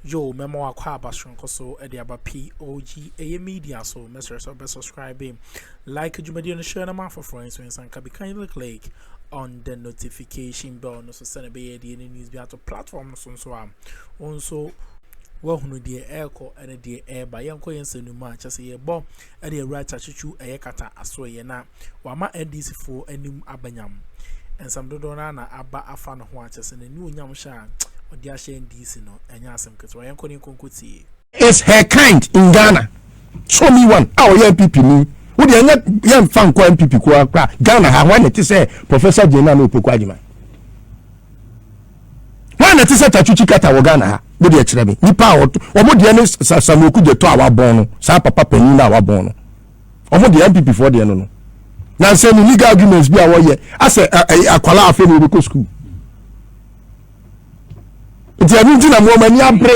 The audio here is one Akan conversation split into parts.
Yoo mɛma wakɔ aba soronko so de aba POG ɛyɛ media so mɛsrɛ sɛ ɔbɛ subscribe like dwumadie no hyɛ na ma afoforɔ nso nsa nka bi kindly click on the notification bell no so sɛ na ɛbɛyɛ deɛ ne news bi ato platform no so nso a wo nso wahunu deɛ ɛrekɔ ne deɛ ɛreba yɛnkɔ yɛn nsɛm no mu a kyɛ sɛ yɛbɔ ɛde awura Kyakyekyuw ɛyɛ kata asoɛeɛ na wama NDC foɔ anim aba nyam. Nsɛm dodoɔ no ara na aba afa ne ho a kyerɛ sɛ n'aniuonyam hyɛ a ɔde ahyɛ NDC no ɛnyɛ asɛm ketewa. Yɛnkɔ ne nkɔ nkɔ tie. Is her kind in Ghana show me one a ɔyɛ NPP ni wo deɛ ɛnyɛ yɛ nfa nkɔ NPP koa kora Ghana ha hwan na ɛte sɛ Professor Jane Nana Opoku Agyeman. wọn na ɛte sɛ tachuchi kata wɔ ghana ha mo deɛ kyerɛ me nipa a wɔn deɛ ne samuel kudzeto a wabɔn no saa papa panyin no a wabɔn no wɔn deɛ npp foɔ deɛ no no na nsɛm no legal arguments bi a wɔyɛ asɛ ɛyɛ akwalaa afei na wɔbɛkɔ sukuu nti ɛno nti na mo wɔn ani abere.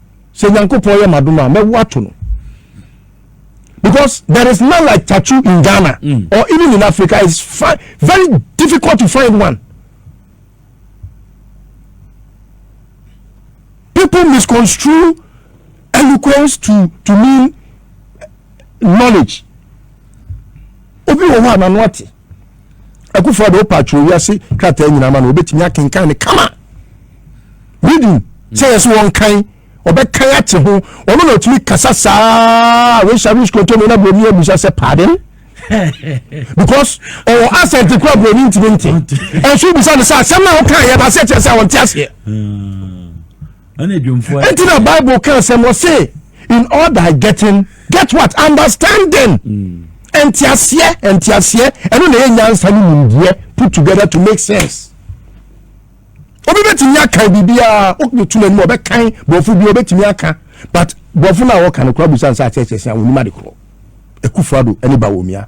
sɛ nyankopɔn yɛ madom a mɛwo ato no because there is none like tattoo in ghana mm. or even in africa it's fi very difficult to find one people misconstrue eloquence to to mean knowledge obi wɔ hɔ a n'ano ate Akufo Addo opa atwerɛ wiase krataa nyinaa ama no wɔbɛtumi akenkan no kama reading sɛ yɛ sɛ wɔnkan ɔbɛkan ate ho ɔno na ɔtumi kasa saa resa rich kontomi na buroni abusa sɛ pardon because ɔwɔ asɛm te kura buroni ntumi nte ɛnso bisa no sɛ asɛm na ɔka yɛ na asɛ kyerɛ sɛ ɔnte aseɛ hmm. Enti na Bible ka asɛm wɔ se in all thy getting get what understanding. Mm. Nteaseɛ nteaseɛ ɛno na ɛyɛ nyansa ne nimdeɛ put together to make sense. Obi bɛtumi aka biribiara wobɛtu n'anim ɔbɛkan borɔfo bi wobɛtumi aka but borɔfo no a wɔka no kora busa nsɛ akyerɛkyerɛ sɛ a wɔnim ade korɔ. Akufo-Addo ne Bawumia.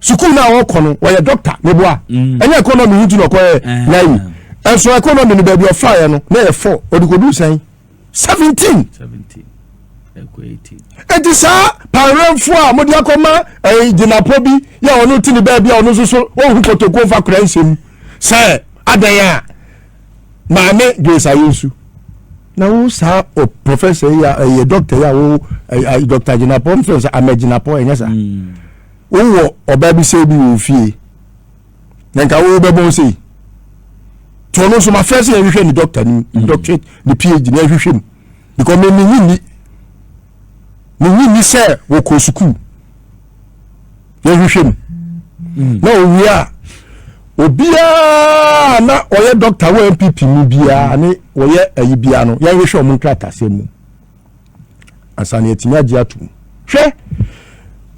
sukuu no a wɔkɔ no wɔyɛ dɔkta meboa mm. ɛnyɛ ɛkɔnɔmi no nti na ɔkɔyɛ eh. nayi ɛnso ɛkɔnɔmi no baabi ɔfaeɛ no na yɛ fɔ ɔde kɔduu sɛn seventeen ɛti saa pawerɛmfoɔ a mode akɔma eh, gyinapɔ bi yɛ ɔno te ne baabi a ɔno nso so wɔhu kɔtɔkuo mfa kora nsɛm sɛ adɛn a maame grace ayɛ nsu na wo saa o professor yi a ɛyɛ doctor yi a wo doctor gyinapɔ n fɛn sɛ ama gyinapɔ ɛnyɛ saa hmm. wowɔ ɔbaa bi sɛ bi wɔ fie na nka wo bɛbɔn sei nti ɔno nso mafrɛ sɛ yɛhwehwɛ ne doctor no mu doctorate ne phd na ɛhwehwɛ mu because me menyi ni menyi ni sɛ wɔkɔ sukuu yɛhwehwɛ mu mm. na owie a obiara na ɔyɛ dɔkta wɔ npp mu biara ne ɔyɛ ayi biara no yɛhwehwɛ ɔmo nkratasɛm mu ansa na yɛtumi agye ato mu hwɛ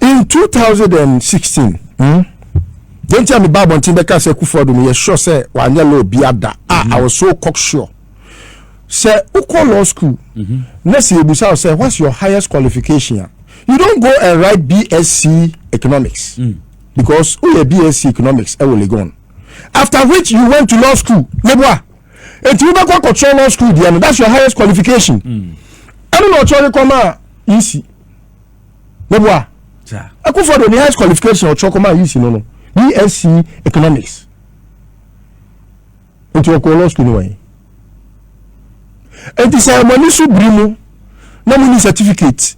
in 2016 mm, yɛnti a meba abɔnten bɛka sɛ kufoɔ do no yɛsure sɛ wanyɛ law bi ada a mm. i was so cocksure sɛ wokɔ law school mhm. na sɛ yɛbusa wo sɛ what's your highest qualification a you don't go and write bsc economics mm. because woyɛ bsc economics ɛwɔ legon after which you went to law school meboa nti wobɛkɔ akɔkyerɛ law school deɛ no that's your highest qualification mm. ɛno na ɔkyerɛ rekɔ ma a yisi meboa ɛkofɔ de ne highest qualification ɔkyerɛ kɔ ma a yisi no no bsc economics Nti ɔkɔɔ law school no wɛn. Nti sɛ mo ani so biri mo na mo ni certificate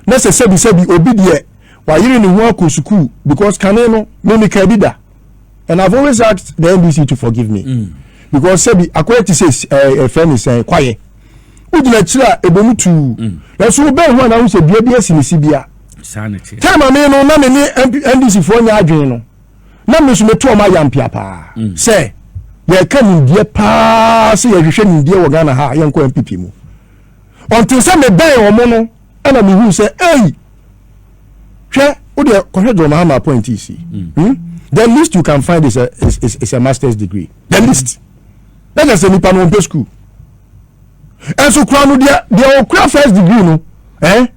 na sɛ sɛbi sɛbi obi deɛ wayere ne ho akɔ sukuu because kane no me me kaa bi da and I've always asked the NDC to forgive me mm. because sɛbi akɔyɛ ti sɛ ɛɛ ɛfɛ ne sɛn kwaye wogyina akyire a ɛbɔ mu tuu mm. nanso wobɛn ho a na ho sɛ dua bi asi ne si bia time a me no na me ne NDC foɔ nyɛ adwene no na me nso meto ɔmo ayampea paa mm. sɛ yɛka nimdeɛ paa sɛ yɛhwehwɛ nimdeɛ wɔ ghana ha yɛnkɔ npp mu ɔnte sɛ mebɛn ɔmo no ɛna mehu sɛ ei hwɛ wodeɛ kɔhwɛ john mahama appointee si mm. hmm? the least you can find is a, is, is, is a master's degree the least na kyɛ sɛ nipa no ɔmpɛ school ɛnso kura no deɛ deɛ ɔkura first degree no ɛyɛ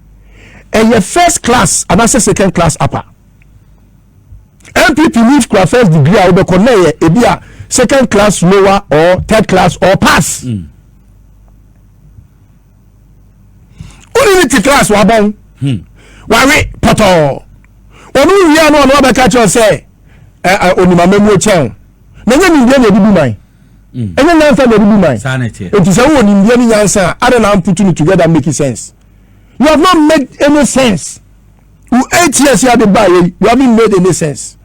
eh? first class anaasɛ second class upper npp leave kura first degree a wobɛkɔ na ɛyɛ ebi a second class lower or third class or pass mm. wone ne te class wabɔn hmm. wawe pɔtɔɔ ɔno wia no ɔno wabɛka kyerɛ sɛ onimama mu kyɛn na ɛnyɛ nimdeɛ na ɛde bu man hmm. ɛnyɛ nyansa na ɛde bu man nti sɛ wowɔ nimdeɛ ne nyansa a ada na amputu no together make sense you have not made any sense wo eight years yɛ de ba yɛ you haven't made any sense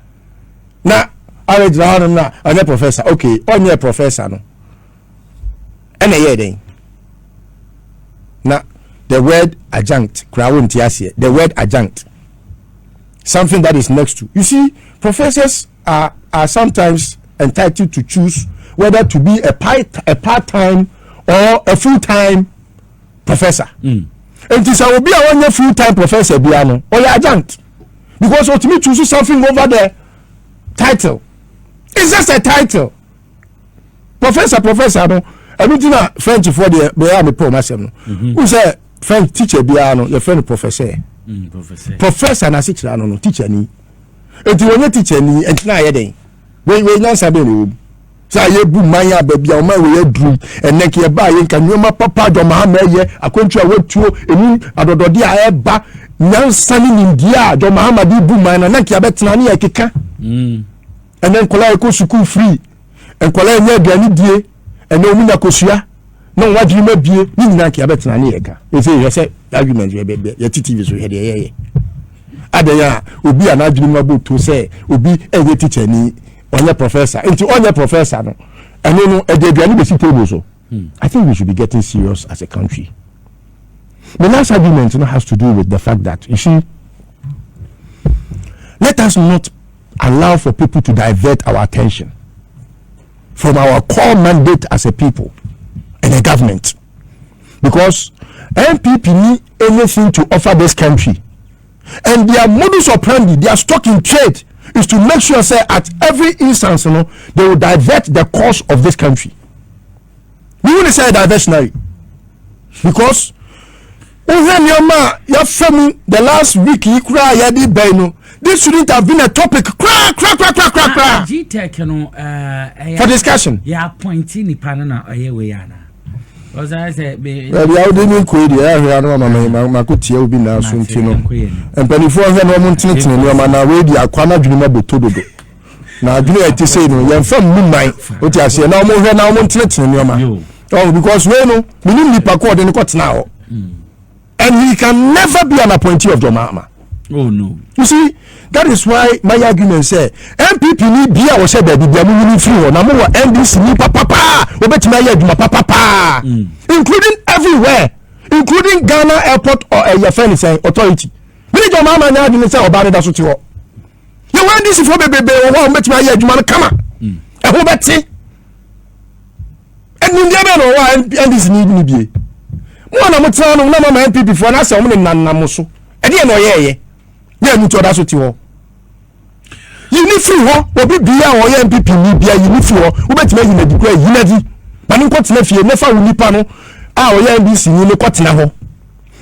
na ayɛ gyina hɔ nom na ɔnyɛ professor okay ɔnyɛ professor no ɛna ɛyɛ dɛn na the word adjunct koraa wo nti aseɛ the word adjunct something that is next to you see professors are are sometimes entitled to choose whether to be a part a part time or a full time professor mm. nti sɛ obi a wɔnyɛ full time professor biara no ɔyɛ adjunct because otumi choose something over the title it's just a title professor professor no ɛno ti na french foɔ deɛ bɛyɛ a mepɛ ɔmo asɛm no mhm. wohu sɛ french teacher biara no yɛfrɛ no professor mm, professor na asekyerɛ ano no teacher ni nti wɔnyɛ teacher ni nti na ayɛ dɛn wei wei nyansa bɛn na ɛwɔ mu. sɛ a yɛbu man a baabi a ɔman wɔ yɛ adurum ɛnɛ nka yɛbaa yɛ nka nneɛma papa de ɔma ha ma ɛyɛ akwantu a wɔatuo ɛmu adɔdɔde a ɛba nyansa ne nimdeɛ a de ɔma ha ma de bu man na na nka yɛbɛtena ne yɛkeka mm. ɛnɛ nkɔla yɛkɔ sukuu firi nkɔla yɛnyɛ aduane die ɛnɛ ɔmu nya kosua na wɔn adwene mu abie ne nyinaa nka yɛbɛtena ne yɛka ɛsɛ yɛ sɛ argument yɛte tv so hwɛ deɛ yɛyɛ adɛn a obi a n'adwene mu abɔ tuo sɛ obi ɛyɛ tikyani ɔnyɛ professor nti ɔnyɛ professor no ɛno no ɛde aduane bɛsi table so hmm. i think we should be getting serious as a country my last argument no has to do with the fact that you see let us not allow for people to divert our attention from our core mandate as a people and a government because npp need anything to offer this country and their modus operandi their stock in trade is to make sure say at every instance no they will divert the course of this country We will say diversionary because wohwɛ nneɛma a yɛafa mu the last week yi koraa a yɛde bɛn no this shouldn't have been a topic koraa koraa koraa koraa koraa koraa. gtech no ɛɛ. for discussion. yɛ appointee nipa no na ɔyɛ wei ana. baabi a wode ne nkoi deɛ ɛyɛ ahwɛ ano ma mako tia obi naa so nti no mpanimfoɔ hwɛ no ɔmo ntenetene nneɛma na wei deɛ akwa no adwene mu abɛtɔ dodo na adwene a ɛte sei no yɛmfa mmu man wote aseɛ na ɔmo hwɛ na ɔmo ntenetene nneɛma ɔho because wei no menim nipa kɔɔde no kɔtena hɔ hmm. And he can never be an appointee of John Mahama. Oh no. You see, that is why my argument say NPP ni bi a wɔhyɛ baabi bi a mo nyini firi hɔ na mo wɔ NDC ni papapa wɔbɛtumi ayɛ adwuma papapa mm. including everywhere including Ghana airport or ɛyɛ eh, fɛn sɛn authority. Mi ni John Mahama nyɛ adwene sɛ ɔbaa ne da so ti hɔ. Yɛ wɔ NDC fo bebrebe wɔ hɔ a wɔbɛtumi ayɛ adwuma no kama. Mm. Ɛho bɛte. nimdeɛ bɛn na ɔwɔ a ndc ni ni bie mo a na mo tena nom na mama npp foɔ na asɛ wɔn ne nanam mo so ɛdeɛ na ɔyɛ ɛyɛ yɛ ɛmu ti ɔda so ti hɔ yi ne firi hɔ obi bia a ɔyɛ npp ni bia yi ne firi hɔ wobɛtumi ayi n'adi kura yi n'adi ma ne nkɔ tena fie ne fa wo nipa no a ɔyɛ ndc ni ne kɔ tena hɔ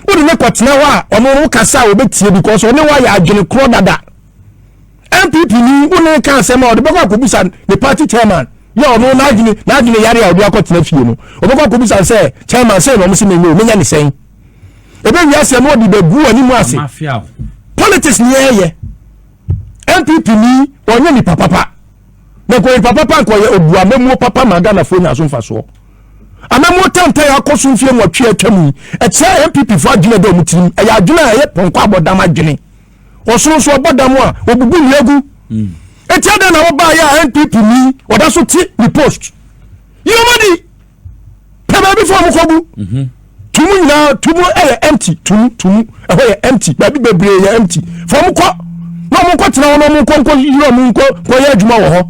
wode ne kɔ tena hɔ a ɔno wo kasa a wɔbɛtie because ɔne wo ayɛ adwene korɔ dada npp ni wo ne ka asɛm a ɔde bɛkɔ akɔbisa ne party chairman yɛ ɔno n'adwene n'adwene yare a ɔde akɔtena fie no ɔbɛkɔ akɔbisa sɛ chairman sɛ na ɔmo se menyɛ o menyɛ ne sɛn ebe wi asɛm ɔde bɛgu anim ase politics ni ɛyɛ npp ni ɔnyɛ nipa papa na nkɔ nipa papa nkɔ yɛ obu amamuo papa ma ghanafoɔ nya so mfasoɔ amamuo tantan akɔ so mfie nwɔtwe atwa mu ɛkyerɛ npp foɔ adwene dɛ ɔmo tirim ɛyɛ adwene a ɛyɛ pɔnkɔ abɔdam adwene ɔsono nso ɔbɔ dam a obubu nnua gu hmm. eti adan na wɔbaa yɛ a npp ni ɔda so te ne post yi ɔmo di pɛ baabi fɔ ɔmo kɔ gu mhm. tumu nyinaa tumu ɛyɛ empty tumu tumu ɛhɔ yɛ empty baabi bebree yɛ empty fɔ ɔmo kɔ na ɔmo nkɔ tena hɔ na ɔmo nkɔ nkɔ yiri ɔmo nkɔ nkɔ yɛ adwuma wɔ hɔ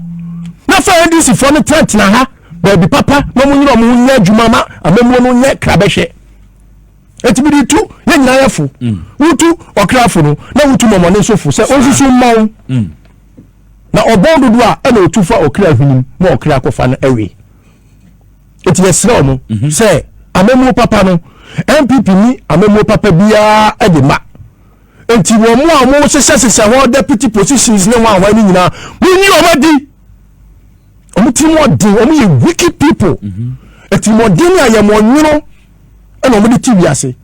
na fɛ ndc fɔ no tena tena ha baabi papa na ɔmo nyere ɔmo nyɛ adwuma ma amamuo no nyɛ krabɛhwɛ eti mede tu yɛn nyinaa yɛ fo mm. wotu ɔkrafo no na wotu mɔmɔne nso fo sɛ ɔnsusu mma wo mm. na ɔbɔn dodoɔ a ɛna ɔtu fa ɔkra hwenem ma ɔkra akɔfa no awe eti yɛserɛ ɔmo mhm. sɛ amamuo papa no npp ni amamuo papa biara de ma nti wɔn mu a wɔn hyehyɛ hyehyɛ hɔ deputy positions ne wɔn a wɔn ani nyinaa wɔn nyi wɔn adi wɔn ti mu ɔden wɔn yɛ wicked people ɛti mu ɔden a yɛ mu ɔnwono. ɛna wɔn de ti wiase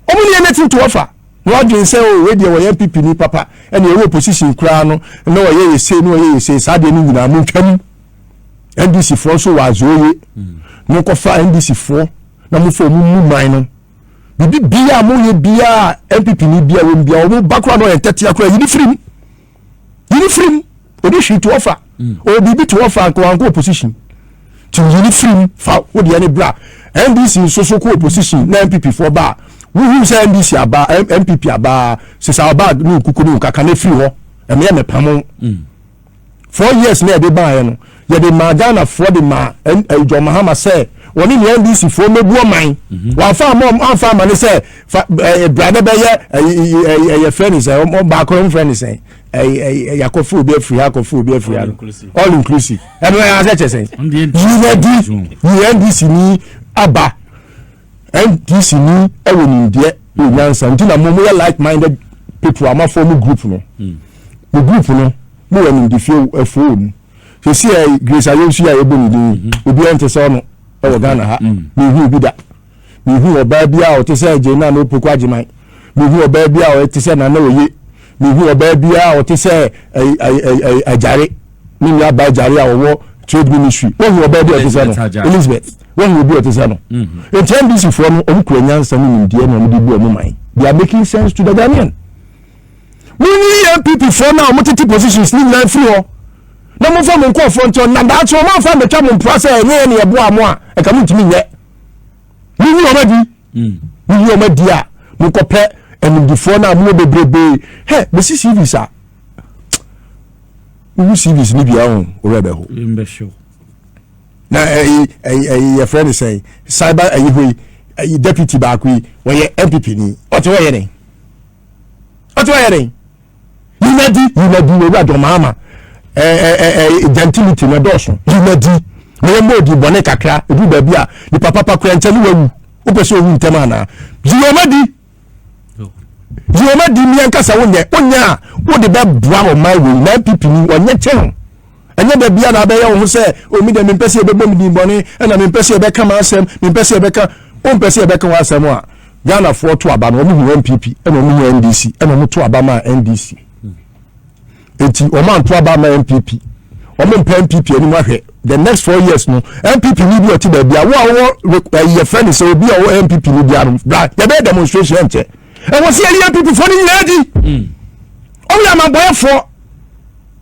wɔn ne yɛn nɛti ntoɔ fa na wadwene sɛ o oh, wei deɛ wɔyɛ npp ni papa ɛna ɛwɔ opposition koraa no na wɔyɛ yɛ sei na wɔyɛ yɛ sei saa deɛ no nyinaa mo ntwam ndc foɔ nso wɔ azɔɔye mo nkɔfa ndc foɔ na mo fɔ wɔn mu man no bibi bia mo yɛ bia npp ni bia wɔn bia wɔn ba koraa na wɔyɛ ntɛtea koraa yi ni firim. Yi no firi mu. Ɔde hwee to hɔ fa. Mm. Ɔwɔ biribi to hɔ fa nka wankɔ opposition. Ti yi no firi mu fa wodeɛ ne bra. NDC nso so kɔ opposition na NPP foɔ ba a. Wohuu sɛ NDC aba NPP aba sesa ɔba ne nkuku ne nkaka na firi hɔ. Ɛmeɛ mepamo. Mm. Four years na ɛde baeɛ no Yɛde maa Ghana foɔ de maa ɛn ɛyi John Mahama sɛ wɔne nea NDC foɔ mɛbu ɔman. Wɔanfa ama ɔm anfa ama ne sɛ fa ɛɛ bra na bɛyɛ ɛyi ɛyi ɛyi ɛyɛ fɛ ne sɛ ɔm baako no homfɛ ne sɛ ɛyi ɛyi ɛyi akɔfo obi afiri ha akɔfo obi afiri ha no all inclusive ɛno ɛyɛ asɛ kyɛ sɛ yinadi yi NDC ni aba NDC ni ɛwɔ nimdeɛ wɔ nyansa nti na mo mo yɛ like minded people amafo mo group no mo group no mo wɔ nimdefie ɛfo wɔ mu. sisi a grace ayonsu yi a yɛbɔ ne din mhm. obiara nte sɛ ɔno wɔ ghana ha mhm. mehu obi da mehu ɔbaa bi a ɔte sɛ agye na na opoku agyeman mehu ɔbaa bi a ɔte sɛ nana oye mehu ɔbaa bi a ɔte sɛ agyare ne nua ba agyare a ɔwɔ trade ministry wɔhu ɔbaa bi a ɔte sɛ no elizabeth wɔhu obi a ɔte sɛ no mhm. nti ndc foɔ no ɔmo kura nyansa ne nimdeɛ na ɔmo de bu ɔmo man they are making sense to the ghanaian. Munyi NPP foɔ no a wɔn tete positions ne nyinaa firi hɔ na mofa mo nkurɔfoɔ nkyɛn na daakye wɔn afa mbɛtwa mo mpora sɛ ɛnyɛ yɛ ne ɛboa mo a ɛka mo ntumi nyɛ. Munyi wɔn adi. Hmm. Munyi wɔn adi a monkɔpɛ animdifoɔ no a mowɔ bebrebee hɛ mesi cvs a wohu cvs no bia ho worɛ bɛho na ɛyi ɛyi ɛyi yɛfrɛ no sɛn cyber ɛyi hɔ yi ɛyi deputy baako yi wɔyɛ npp ni ɔte wɔyɛ ne. ɔte ɔyɛ dɛn yinadi yinadi owurade ɔmaama ɛɛ ɛɛ gentility na ɛdɔɔso yinadi na yɛn mɔɔdi bɔne kakra edu baabi a nipa papa kura nkyɛn ne wawu wopɛ sɛ owu ntɛm anaa yiwomadi yiwomadi mmea nkasa wonyɛ wonyɛ a wode bɛboa ɔman wei na npp ni wɔnyɛ kyɛn. ɛnyɛ da bia na abɛyɛ wo ho sɛ o me deɛ mempɛ sɛ yɛbɛbɔ me din bɔne ɛna mempɛ sɛ yɛbɛka m'asɛm mempɛ sɛ yɛbɛka wompɛ sɛ yɛbɛka wo asɛm a ghanafoɔ to aba no wɔn hu npp ɛna wɔn hu ndc ɛna wɔn to aba maa ndc eti wɔn anto aba maa npp wɔn mpɛ npp anim ahwɛ the next four years no npp ni bi ɔte baabi a wo a wɔwɔ ɛyɛ fɛ ne sɛ obi a ɔwɔ npp ni bi ano bra yɛbɛyɛ demonstration ɛnkyɛ ɛwɔ sɛ yɛyi npp foɔ no nyinaa di ɔmo yɛ amabɔyɛfoɔ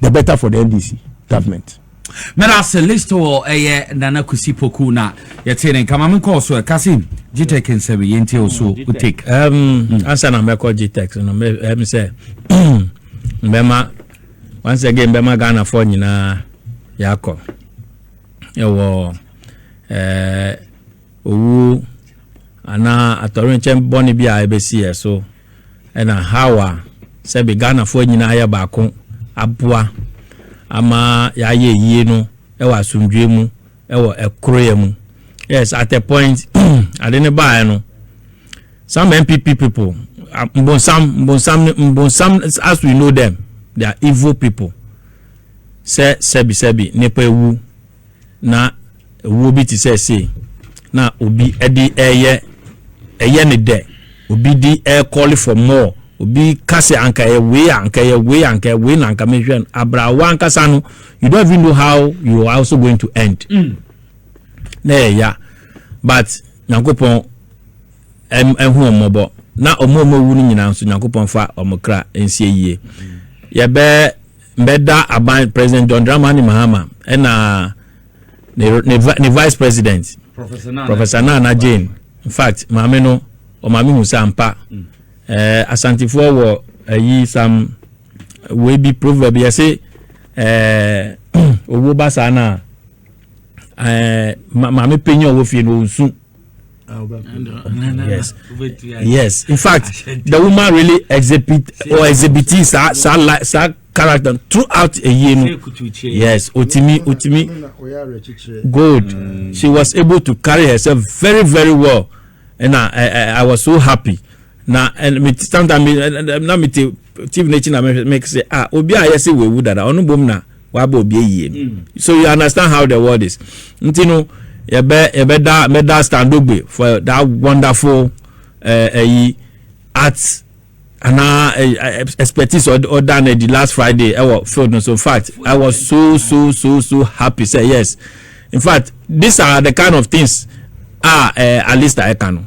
The better for the NDC government. Meda ase list wɔ ɛyɛ Nana Kusi Poku na yɛte ne nka ma menkɔɔ so ɛka se Gtech nsɛm yɛ nti ɛwɔ so take. Mm. Ansa na mɛkɔ Gtech no ɛm sɛ mbɛma once again mbɛma Ghanafoɔ nyinaa yɛakɔ ɛwɔ ɛɛ owu anaa atɔrenkyɛm bɔne bi a ɛbɛsi yɛ so. ɛna how a sɛbe Ghanafoɔ nyina ayɛ baako aboa ama yɛayɛ ayie no wɔ asomdwoeɛ mu wɔ koroyɛ mu. Yes, at a point ade no baeɛ no some NPP people mbonsam mbonsam mbonsam as we know them they are evil people sɛ sɛbi sɛbi nipa ewu na wuo bi te sɛ sei na obi de reyɛ ɛyɛ ne dɛ obi di ɛyɛ call for more obi ka sɛ anka ɛyɛ wei anka ɛyɛ wei anka ɛyɛ wei na anka mehwɛ no abrawa ankasa no you don't even know how you are also going to end mm. na ɛyɛ ya but nyankopɔn ɛho ɔmɔbɔ na ɔmo ɔmo wu no nyinaa nso nyankopɔn fa ɔmo kra nsie yie yɛbɛ Mbɛda aban President John Dramani Mahama na ne ne ne Vice President Professor Nana Jane. In fact, maame no ɔma mehu sɛ ampa mm. eh, Asantefoɔ wɔ ayi eh, sam wei bi proverb yɛse eh, owuo ba saa no a eh, maame panyin a ɔwɔ fie no ɔnsu Ah, yes. yes. In fact, the woman really exhibit or exhibiting sa sa like sa character throughout a year. No? Yes, Otimi Otimi good. Mm. She was able to carry herself very very well, and I I, I was so happy. Now and me sometimes me na me te TV na make say ah obi a yɛ sɛ wewu dada ɔno bom na. wabɔ obi ayie no mm. so you understand how the world is nti no yɛbɛ yɛbɛda mɛda standogbe for that wonderful ɛyi uh, uh, art anaa eh, eh, eh, expertise ɔda na di last friday ɛwɔ field no so in fact i was so so so so happy say yes in fact these are the kind of things ah uh, alista ɛka no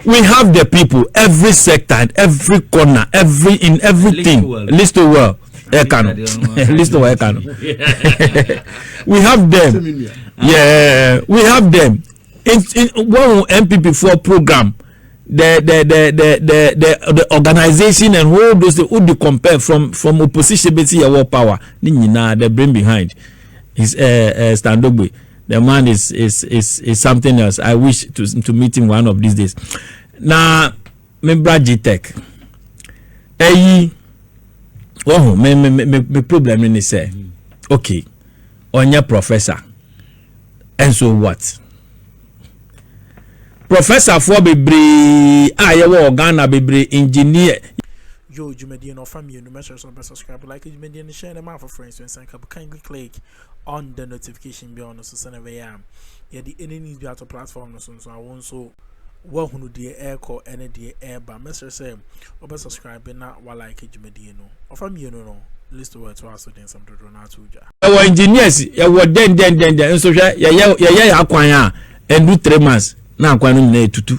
we have the people every sector every corner every in everything list well. ɛka no list wɔ ɛka no we have them yeah we have them in in wɔn npp foɔ program the the the the the the, the organization and whole those things would compare from from opposition beti yawo power ne nyinaa the brain behind is uh, eh, uh, eh, standogbe the man is is is is something else i wish to to meet him one of these days na. Nah, me bra gtech ɛyi wɔho me me me me problem no ne sɛ okay ɔnyɛ professor and so what professor foɔ bebree a yɛwɔ wɔ ghana bebree engineer. yo dwumadie no ɔfa mmienu mɛsrɛ sɛ ɔbɛ subscribe like dwumadie no hyɛ ne ma afoforɔ nso nsa nka bu kindly click on the notification bell no so sɛnea ɛbɛyɛ a yɛde any news bi ato platform no so nso a wɔn nso woahunu deɛ ɛrekɔ ne deɛ ɛreba mɛsrɛ sɛ wɔbɛ subscribe na walike dwumadie no ɔfa mmienu no list wɔ ɛto aso de nsɛm dodoɔ no ato dwa yɛwɔ engineers yɛwɔ dɛndɛndɛndɛn nso hwɛ yɛyɛ yɛyɛ akwan a ɛndu three months na akwan no nyinaa ɛtutu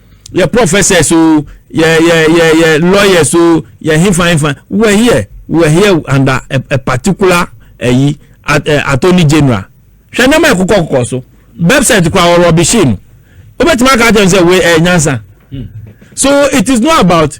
yɛ professors o yɛ yɛ yɛ yɛ lawyers o yɛ hefa hefa we were here we were here under a, a particular ɛyi eh, attorney general hwɛ nneɛma yɛ kokɔ kokɔ so website kora wɔ rɔbishin wobɛtumi aka akyerɛ sɛ we ɛyɛ eh, nyansa so it is not about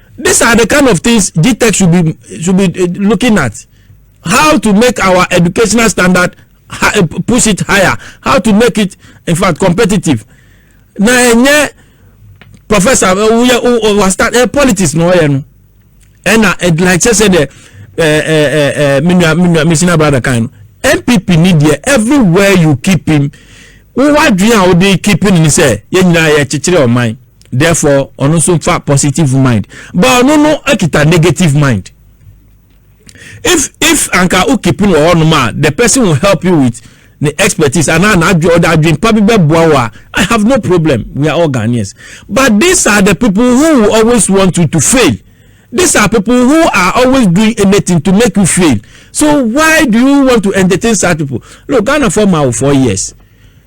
These are the kind of things GTEC should be should be eh, looking at. How to make our educational standard eh, push it higher. How to make it in fact competitive. Na enye professor eh, we we start uh, politics no ye no. Ena like say the eh eh eh minua minua misina brother kan. NPP need there everywhere you keep him. Wo wadwen a wo dey keep him ni say ye nyina ye kyekyere oman. therefore ɔno nso fa positive mind but ɔno no akita negative mind if if anka o keep no wɔ hɔnom a the person will help you with ne expertise anaa n'adwe ɔde adwempa bi bɛboa wo a i have no problem we are all ghanaians but these are the people who will always want you to fail these are people who are always doing anything to make you fail so why do you want to entertain such people look ghana for ma wo four years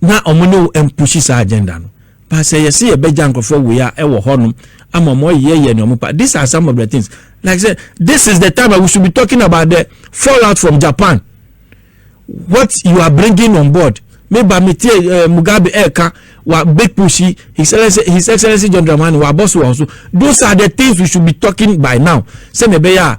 na wɔn ne wo mpushi saa agenda no but sɛ yɛse yɛbɛgya nkurɔfoɔ wei a ɛwɔ hɔnom ama wɔn ɔyɛ yɛ nea wɔn pa these are some of the things like say this is the time that we should be talking about the fallout from Japan what you are bringing on board me ba me tie uh, Mugabe ɛɛka eh, wa big push his excellency his excellency John Dramani wa bɔ so wɔ so those are the things we should be talking by now sɛ na ɛbɛyɛ a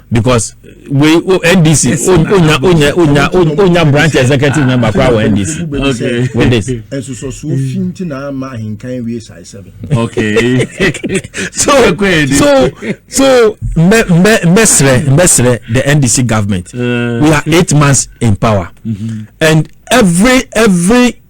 because wei o ndc onya onya onya onya branch executive member kora wɔ ndc okay with this. nsosɔsoɔ fi nti na ama ahinkan wie saa sɛbi. okay so so so mbɛ mbɛ mbɛ srɛ mbɛ srɛ the ndc government uh, we are eight months in power mm -hmm. and every every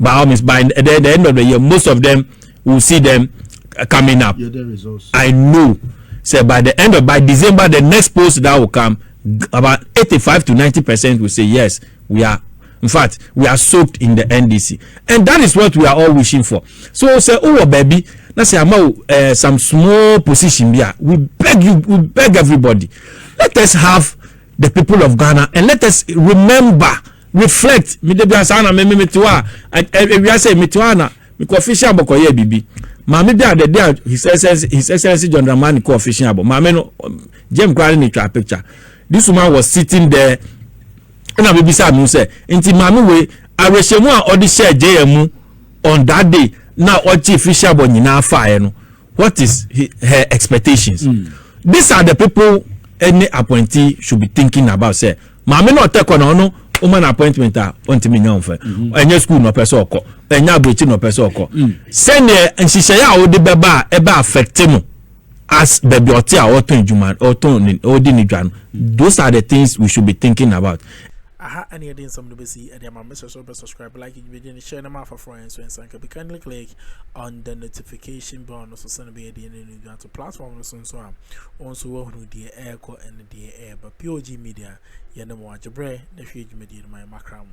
by all means by the, the end of the year most of them will see them coming up i know say by the end of by december the next post that will come about 85 to 90 percent will say yes we are in fact we are soaked in the ndc and that is what we are all wishing for so say oh baby na say ama uh, eh, some small position bi we beg you we beg everybody let us have the people of ghana and let us remember reflect me da biara saa na me me mete hɔ a awia sɛ mete hɔ a na mekɔ ɔfihye abɔ kɔyɛ biribi maame bi a the day a his excellence his excellence john dramani kɔ ɔfihye abɔ maame no jam koraa ne twa picture this woman was sitting there ɛna bebisa no sɛ nti maame wei awerɛhyɛmu a ɔde hyɛɛ jm mu on that day na ɔkye fihyɛ abɔ nyinaa faeɛ no what is her expectations mm. these are the people any appointee should be thinking about sɛ maame na ɔtɛ kɔ na ɔno woma no appointment a ɔntumi nya ɔmfɛ mhm. ɛnyɛ school na ɔpɛ sɛ ɔkɔ ɛnyɛ aburokyi na ɔpɛ sɛ ɔkɔ mm. sɛdeɛ nhyehyɛeɛ a wode bɛba a ɛbɛ affect no as baabi ɔte a ɔtɔn adwuma ɔtɔn ne ɔdi ne dwa no those are the things we should be thinking about. aha ɛne yɛde nsɛm no bɛsi ɛde ama mesɛ so bɛ subscribe like dwumadie no hyɛ no ma afaforɔ yɛn nso nsa nka bi kindly click on the notification bell no so sɛne bɛyɛ deɛ ne no dwa to platform no so nso a wɔn nso wɔahunu deɛ ɛrekɔ ɛne deɛ ɛreba. POG Media, yɛnam wɔn agyebrɛ na ɛhwie dwumadie no ma yɛn mmakra mu.